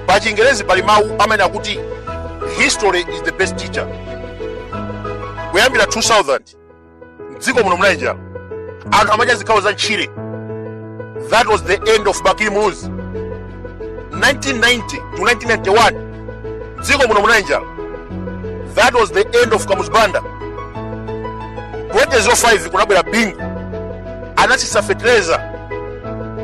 pa chingerezi pali mawu amene akuti history is the best teacher kuyambira 2000 mdziko muno munali njala anthu amadya zikhawo za ntchire that was the end of bakili muluzi 1990 to 1991 mdziko muno munali njala that was the end of kamuzu banda 2005 kunabwera bingu anatsitsa fetereza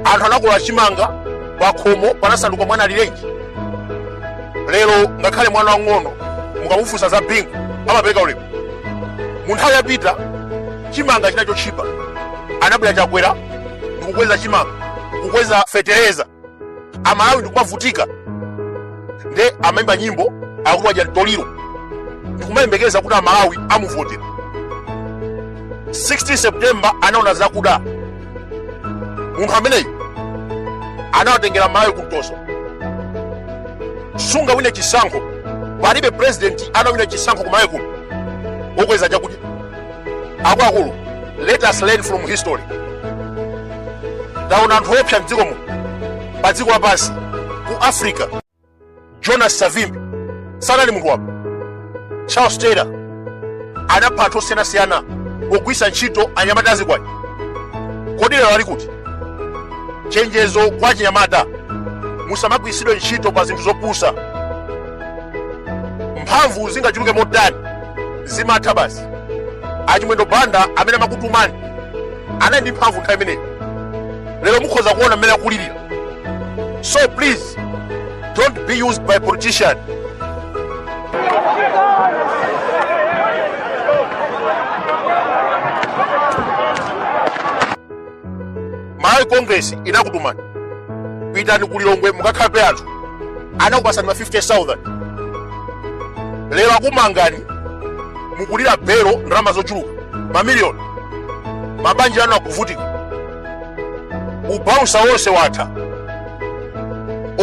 anthu anakolola chimanga pakhomo panasanduka mwana alirenji lero ngakhale mwana wang'ono mukamufunsa za bingu amapereka ulemu mu nthawi yapita chimanga chinali chotchipa anabwera chakwera ndikukweza chimanga kukweza fetereza amalawi ndikumavutika nde amaimba nyimbo akuti wadya mtoliro ndikumayembekeza kuti amalawi amuvotera 16 september anaona zakuda munthu ameneyu anawatengera amalawi kumtoso sungawine chisankho palibe president anawina chisankho kumalawi kuno okweza chakudya akuluakulu let us learn from history taona anthu oopsa mdziko muno pa dziko lapansi ku africa jonas savimbi sanali munthu wabwino charles taylor anapha anthu osiyanasiyana pogwiritsa ntchito anyamata azikwanje kodi lero ali kuti chenjezo kwa achinyamata musamagwiritsidwe ntchito pa zinthu zopusa mphamvu zingachuluke motani zimatha basi achimwendo banda amene amakutumani anali ndi mphamvu nthawi imeneyo lero mukhoza kuona mmene akulirira So please, don't be used by politicians. malawi congress inakutumani pitani ku lilongwe mukakhape anthu anakupasani ma 50000 lero akumangani mukulira belo ndalama zochuluka mamiliyoni mabanja anu akuvutika ubausa wonse watha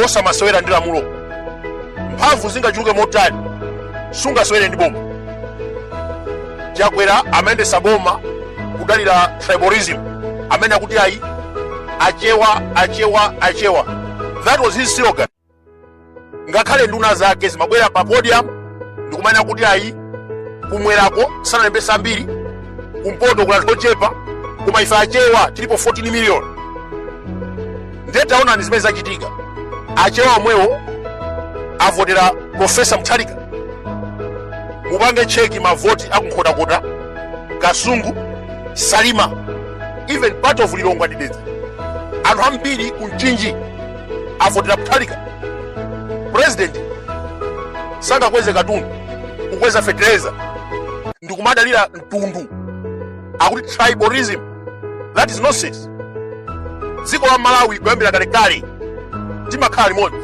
osamasewera ndi lamulo mphamvu zingachuluke motani sungasewere ndi boma chakwera amayendesa boma kudalira tribalism amene akuti ayi achewa achewa achewa that was his slogan ngakhale nduna zake zimabwera pa podium ndikumanena kuti ayi kumwerako sanalembesa ambiri kumpoto kuna anthu ochepa koma ife achewa tilipo 14 million ndiye taonani zimene zachitika achewa omwewo avotera profesa mutharika mupange cheki mavoti akunkhotakota kasungu salima even part of lilongwe ndi dedza anthu ambiri ku mchinji avotera Mutharika president sangakweze katundu kukweza fetereza ndikumadalira mtundu akuti tribalism that is nonsense dziko la malawi kuyambira kalekale timakhala limodzi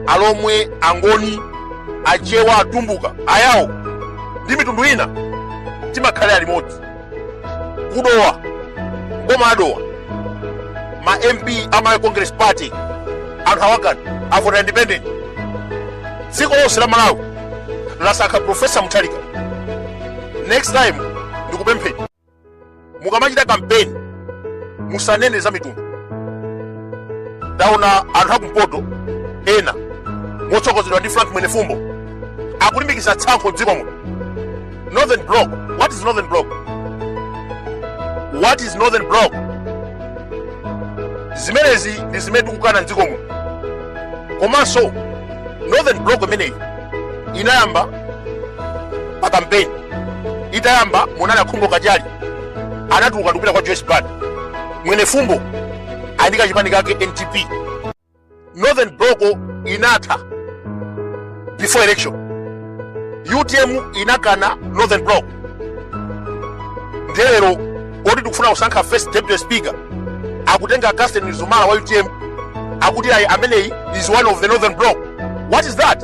alomwe angoni achewa atumbuka ayawo ndi mitundu ina timakhalira limodzi ku Dowa boma a Dowa ma mp a malawi congress party anthu awakana avota independent dziko lonse la malawi lasankha profesa Mutharika next time ndikupempheni mukamachita kampeni musanene za mitundu taona anthu akumpoto ena motsogozedwa ndi frank mwenefumbo akulimbikitsa tsankho mdziko muno Northern Bloc. What is Northern Bloc? What is Northern Bloc? Zimenezi ndi zimene tikukana mdziko muno. Komanso Northern Bloc imeneyi inayamba pa kampeni. Itayamba munali a Khumbo Kachali anatuluka ndikupita kwa Joyce Banda. Mwenefumbo ndi ka chipani kake NDP northern bloc inatha before election utm inakana northern bloc nde lero loti tikufuna kusankha first deputy speaker akutenga Catherine Mzumara wa utm akuti ayi ameneyi is one of the northern bloc what is that